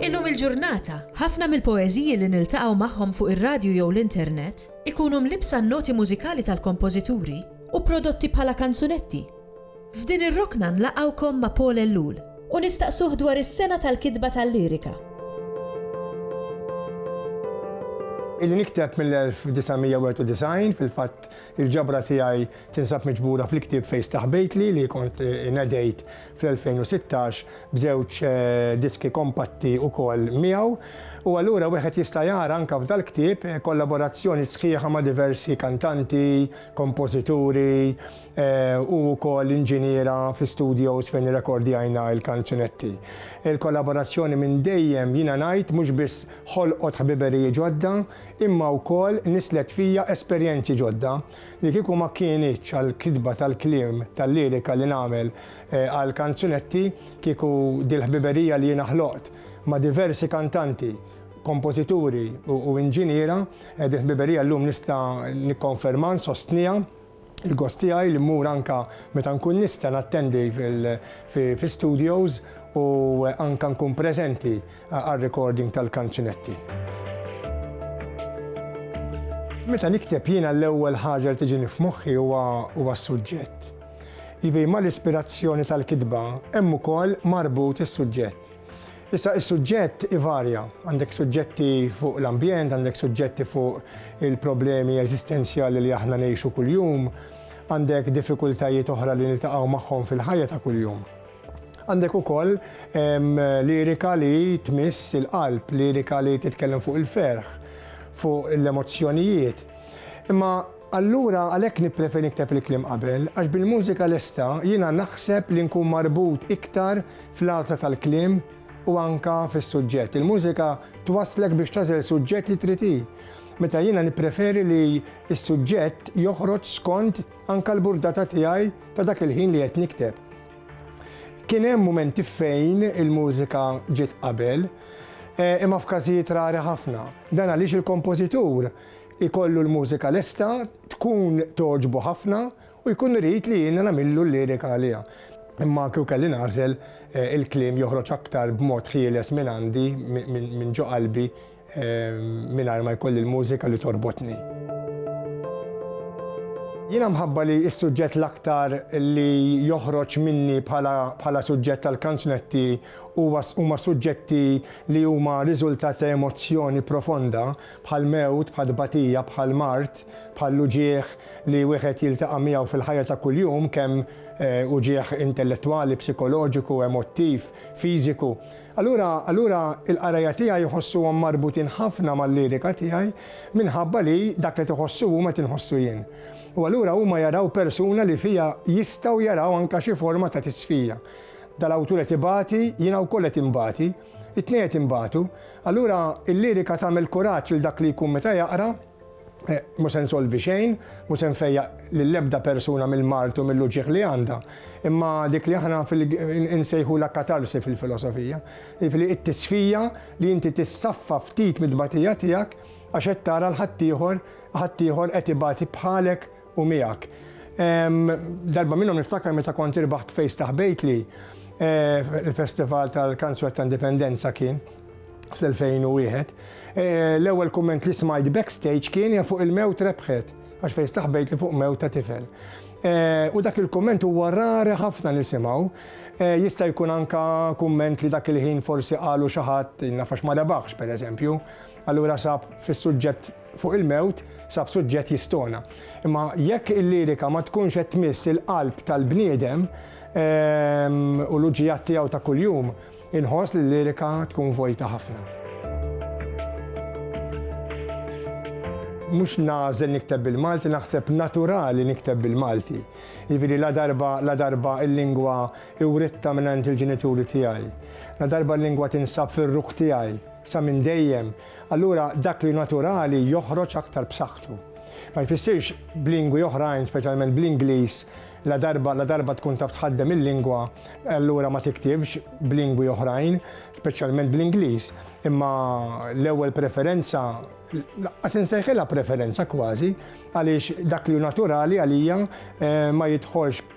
Illum il-ġurnata, ħafna mill-poeżiji li niltaqgħu magħhom fuq ir-radju jew l-internet ikunu mlibbsa n-noti mużikali tal-kompożituri u prodotti bħala kanzunetti, F'din ir-rokna nlaqgħukom ma' Paul Ellul u nistaqsuh dwar is-sengħa tal-kitba tal-lirika. Ili nikteb mill-1991, fil-fatt il-ġabra tiegħi tinsab miġbura fl-ktieb Fejn Staħbejtli li kont inedejt fl-2016 b'żewġ diski kompatti wkoll miegħu. U allura wieħed jista' jara anke f'dal-ktieb kollaborazzjoni sħiħa ma' diversi kantanti, kompożituri, Hu wkoll inġiniera fi studios fejn irrekordjajna l-kanzunetti. Il-kollaborazzjoni minn dejjem, jiena ngħid, mhux biss ħolqot ħbiberiji ġodda, imma wkoll nisslet fija esperjenzi ġodda li kieku ma kinitx għall-kitba tal-kliem tal-lirika li nagħmel għall-kanzunetti, kieku dil-ħbiberija li jiena ħloqt ma' diversi kantanti, kompożituri u inġiniera, din il-ħbiberija llum nista' nikkonfermha, nsostniha. Il-gost tiegħi li mmur anke meta nkun nista' nattendi fi studios u anke nkun preżenti għar-recording tal-kanzunetti. Meta nikteb jiena l-ewwel ħaġa li tiġini f'moħħi huwa s-suġġett. Jiġifieri mal-ispirazzjoni tal-kitba hemm ukoll marbut is-suġġett. Issa is-suġġett ivarja, għandek suġġetti fuq l-ambjent, għandek suġġetti fuq il-problemi eżistenzjali li aħna ngħixu kuljum, għandek diffikultajiet oħra li niltaqgħu magħhom fil-ħajja ta' kuljum. Għandek ukoll lirika li tmiss il-qalb, lirika li titkellem fuq il-ferħ, fuq l-emozzjonijiet. Imma allura għalhekk nippreferi nikteb il-kliem qabel, għax bil-mużika lesta jiena naħseb li nkun marbut iktar fl-għażla tal-kliem u anke fis-suġġett. Il-mużika twasslek biex tagħżel suġġett li trid hi, meta jiena nippreferi li s-suġġett joħroġ skont anke l-burdata tiegħi ta' dak il-ħin li qed nikteb. Kien hemm mumenti fejn il-mużika ġiet qabel, eh, imma f'każijiet rari ħafna. Dan għaliex il-kompożitur ikollu l-mużika lesta, tkun togħġbu ħafna U jkun irid li jiena nagħmillu l-lirika għaliha. Imma kieku kelli nagħżel, il-kliem joħroġ aktar b'mod ħieles minn għandi, minn ġo qalbi, mingħajr ma jkolli l-mużika li torbotni. Jiena mħabba li s-suġġett l-aktar li joħroġ minni bħala suġġett tal-kanzunetti huwa huma suġġetti li huma riżultat ta' emozzjoni profonda, bħall-mewt, bħat-tbatija, bħall-mard. Ġest bħall-uġigħ li wieħed jiltaqa' miegħu fil-ħajja ta' kuljum, kemm uġigħ intellettwali, psikoloġiku, emottiv, fiżiku. Allura, allura il-qarajja tiegħi jħossuhom marbutin ħafna mal-lirika tiegħi minħabba li dak li qed iħossu huma qed inħossu jien. U allura huma jaraw persuna li fija jistgħu jaraw anke xi forma ta' tisfija. Dal-awtur qed ibati, jiena wkoll qed inbati, it-tnejn qed inbatu. Allura l-lirika tagħmel kuraġġ lil dak li jkun meta jaqra. Mhu se nsolvi xejn, mhu se nfejjaq lill-ebda persuna mill-mard u mill-uġigħ li għandha, imma dik li aħna nsejħulha katarsi fil-filosofija, jiġifieri t-tisfija li inti tissaffa ftit mit-tbatija tiegħek għax qed tara 'l ħaddieħor ħaddieħor qed ibati bħalek, u miegħek. Darba minnhom niftakar meta kont irbaħt fejs ta' ħbejtli il-Festival tal-Kanzwett ta' Indipendenza kien fl-2001. L-ewwel kumment li smajt backstage kien hija fuq il-mewt rebħet għax fejn staħbejt li fuq mewt ta' tifel. Eh, u dak il-komment huwa rari ħafna nisimgħu. Eh, jista' jkun anka kumment li dak il-ħin forsi qalu xi ħadd nafax ma rebaħx pereżempju. Allura sab fis-suġġett fuq il-mewt sab suġġett jistona. Imma jekk il-lirika ma tkunx qed tmiss il-qalb tal-bniedem u l-uġigħat tiegħu ta' kuljum, inħoss li l-lirika tkun vojta ħafna. Mhux nagħżel nikteb bil-Malti, naħseb naturali nikteb bil-Malti. Jiġifieri ladarba ladarba l-lingwa writtha mingħand il-ġenituri tiegħi, ladarba l-lingwa tinsab fir-ruħ tiegħi sa minn dejjem, Allura dak li naturali joħroġ aktar b'saħħtu. Ma jfissirx b'lingwi oħrajn, speċjalment bl-Ingliż, ladarba ladarba tkun taf tħaddem il-lingwa, allura ma tiktibx b'lingwi oħrajn, speċjalment bl-Ingliż. Imma l-ewwel preferenza, lanqas insejħilha preferenza kważi, għaliex dak li hu naturali għalija ma jidħolx